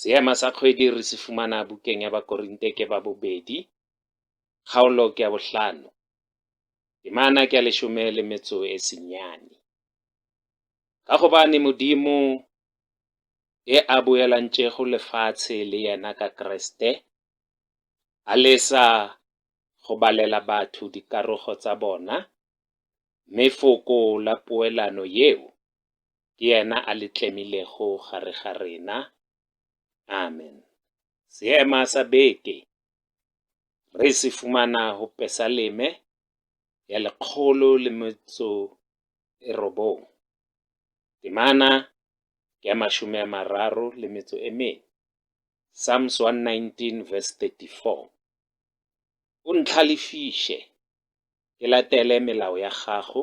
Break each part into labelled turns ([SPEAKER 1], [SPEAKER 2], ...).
[SPEAKER 1] Seema sa kgwedi re se fumana bukeng ya Bakorinte ke ba bobedi, kgaolo ke ya bohlano, temana ke ya leshome le metso e senyane. Ka gobane Modimo e a boelantšego lefatshe le yena ka Kriste, a lesa go balela batho dikarogo tsa bona, mme foko la poelano yeo ke yena a le tlemilego gare ga rena. Amen. Seema sa beke re se fumana go Pesaleme ya lekgolo le metso e robong, temana ke ya mašome a mararo le metso e mene, Psalms 119 verse 34. O ntlhalefiše ke latele melao ya gago,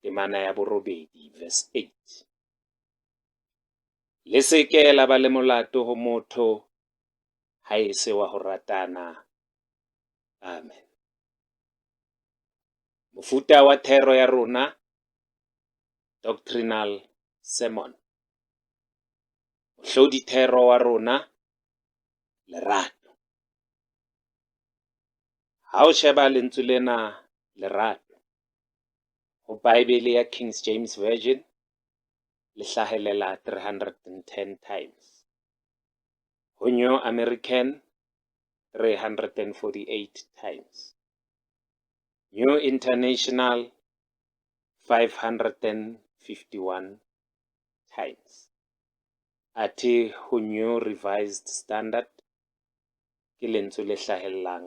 [SPEAKER 1] temana ya borobedi, verse 8. Le se ke la ba le molato go motho ga e se wa go ratana. Amen. Mofuta wa thero ya rona, doctrinal sermon. Mohlodithero wa rona, lerato. Ga o sheba lentswe lena lerato, go Baebele ya King James Version le hlagelela 310 times, go New American 348 times, New International 551 times, athe go New Revised Standard ke lentswe le hlagelelang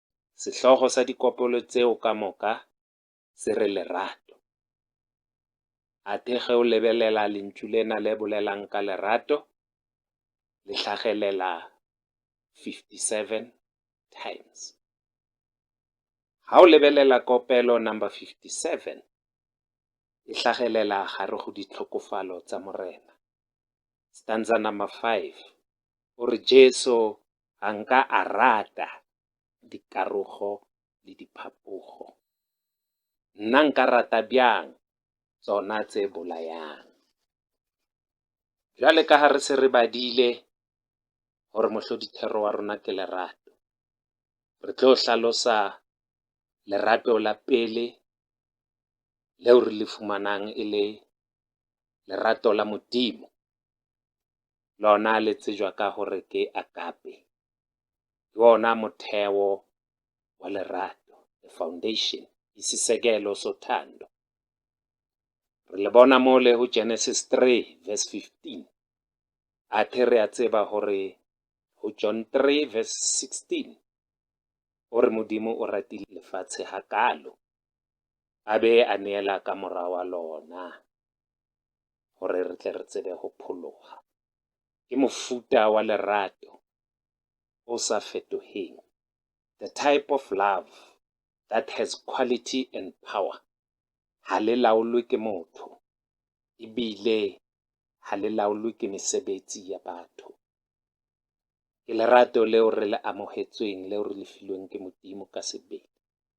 [SPEAKER 1] Sehlogo sa dikopelo tseo ka moka se re lerato. Athe ge o lebelela lentšu lena le bolelang ka lerato, le hlagelela 57 times. Ga o lebelela kopelo number 57, e hlagelela gare go ditlhokofalo tsa Morena. Stanza number 5 o re Jesu ga nka a rata dikarogo le diphapogo. Nna nka rata bjang tsona tse bolayang? Bjale ka ga re se re badile gore mohlodithero wa rona ke lerato, re tlo hlalosa lerato la pele leo re le fumanang e le lerato la Modimo. lona le tsejwa ka gore ke agape ke wona motheo wa lerato the foundation isisekelo sothando re le bona mo le go genesis 3 verse 15 a the re a tseba gore go john 3 verse 16 o re modimo o ratile lefatshe ga kalo a be a neela ka mora wa lona gore re tle re tsebe go phologa. Ke mofuta wa lerato o sa fetogeng, the type of love that has quality and power. Ga le laolwe ke motho, ebile ga le laolwe ke mesebetsi ya batho. Ke lerato leo re le amogetsweng, leo re le filweng ke Modimo ka sebele.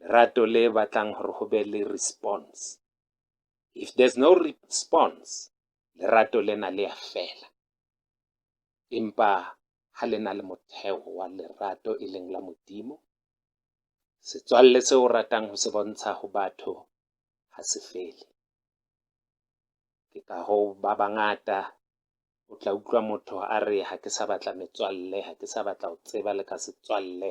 [SPEAKER 1] lerato le batlang gore go be le response if there's no response lerato lena le a fela empa ha le na le motheo wa lerato e leng la modimo setswalle se o ratang go se bontsha go batho ga se fele ke ka go ba bangata o tla utlwa motho a re ga ke sa batla metswalle ga ke sa batla go tseba le ka setswalle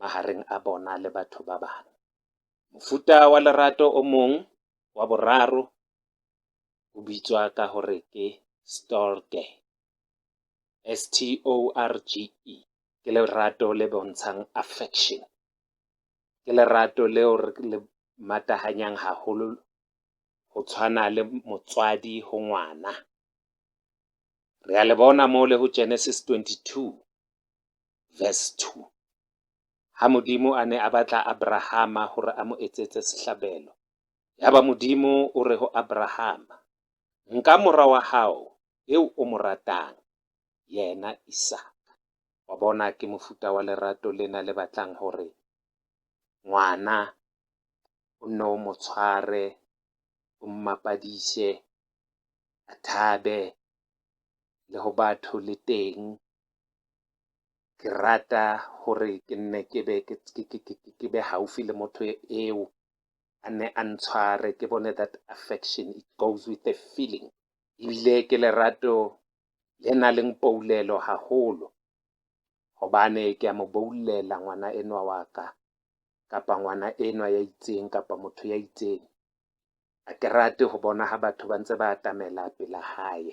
[SPEAKER 1] magareng a bona le batho ba bangwe. Mofuta wa lerato o mong wa boraro o bitswa ka gore ke storge, S-T-O-R-G-E. Ke lerato le bontshang affection. Ke lerato leo re le matahanyang haholo go tshwana le motswadi go ngwana. Re a le bona mo le go Genesis 22, verse 2. Ha Modimo a ne a batla Abrahama gore a mo etsetse sehlabelo, yaba Modimo o re go Abrahama, Nka mora wa gago yo o mo ratang, yena Isaka. Wa bona, ke mofuta wa lerato lena le batlang gore ngwana o nne o mo tshware, o mmapadiše, a thabe le go batho le teng ke rata gore ke nne ke be ke, ke, ke, ke, ke, ke be haufi le motho eo a nne a ntshware ke bone that affection it goes with a feeling ebile ke lerato le na leng poulelo haholo gobane ke a mo boulela ngwana enwa wa ka kapa ngwana enwa ya itseng kapa motho ya itseng a ke rate go bona ga batho ba ntse ba atamela pela gae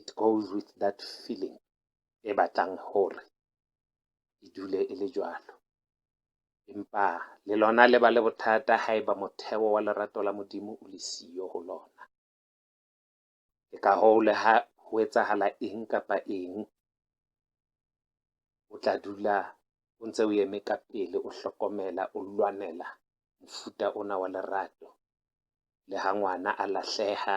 [SPEAKER 1] it goes with that feeling e batlang gore e dule e le jalo empa le lona le ba le bothata ga eba motheo wa lerato la modimo o le siyo go lona ke ka goo le ga go etsagala eng kapa eng o tla dula o ntse o eme ka pele o hlokomela o lwanela mofuta ona wa lerato le ga ngwana a lahlega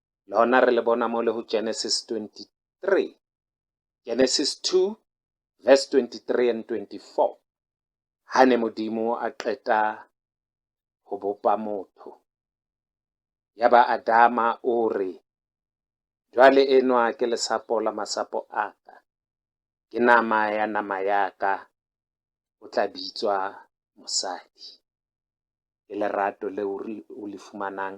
[SPEAKER 1] Lona re le bona mo le go Genesis 23. Genesis 2 verse 23 and 24. Ha ne Modimo a qeta go bopa motho. Ya ba Adama o re, Jwale enwa ke lesapo la masapo a ka, ke nama ya nama ya ka, o tla bitswa mosadi. Ke lerato le o le fumanang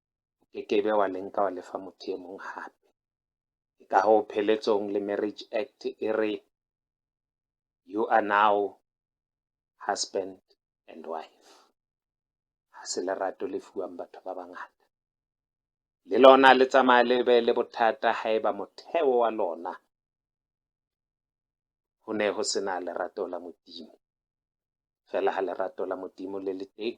[SPEAKER 1] o ke ke be wa le nka wa lefa motho e mong gape ke ka go pheletsong le marriage act e re you are now husband and wife ga se lerato le fiwang batho ba bangata le lona le tsamaya le be le bothata ga e ba motheo wa lona go ne go sena lerato la modimo fela ga lerato la modimo le le teng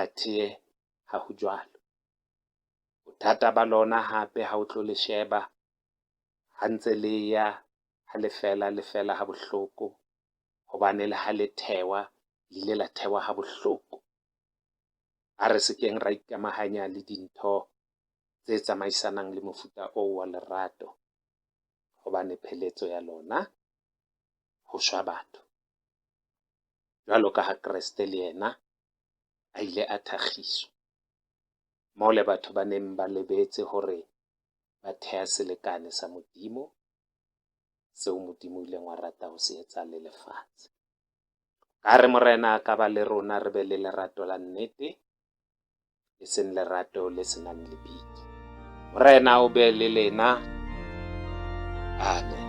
[SPEAKER 1] Athee, ga go bjalo. Bothata ba lona gape ga o tlo le šeba, ga ntse le ya ga le fela le fela ga bohloko, gobane le ga le thewa le ile la thewa ga bohloko. A re se keng ra ikamaganya le dintho tse tsamaisanang le mofuta oo wa lerato, gobane pheletso ya lona go swa batho. bjalo ka ha Kriste le yena a ile a thakgiswa. Mole batho ba neng ba lebetse gore ba thea selekane sa Modimo, seo Modimo o ileng wa rata go se etsa le lefatshe. Ka re Morena a ka ba le rona re be le lerato la nnete, e seng lerato le senang lebitso. Morena o be le lena. Amen.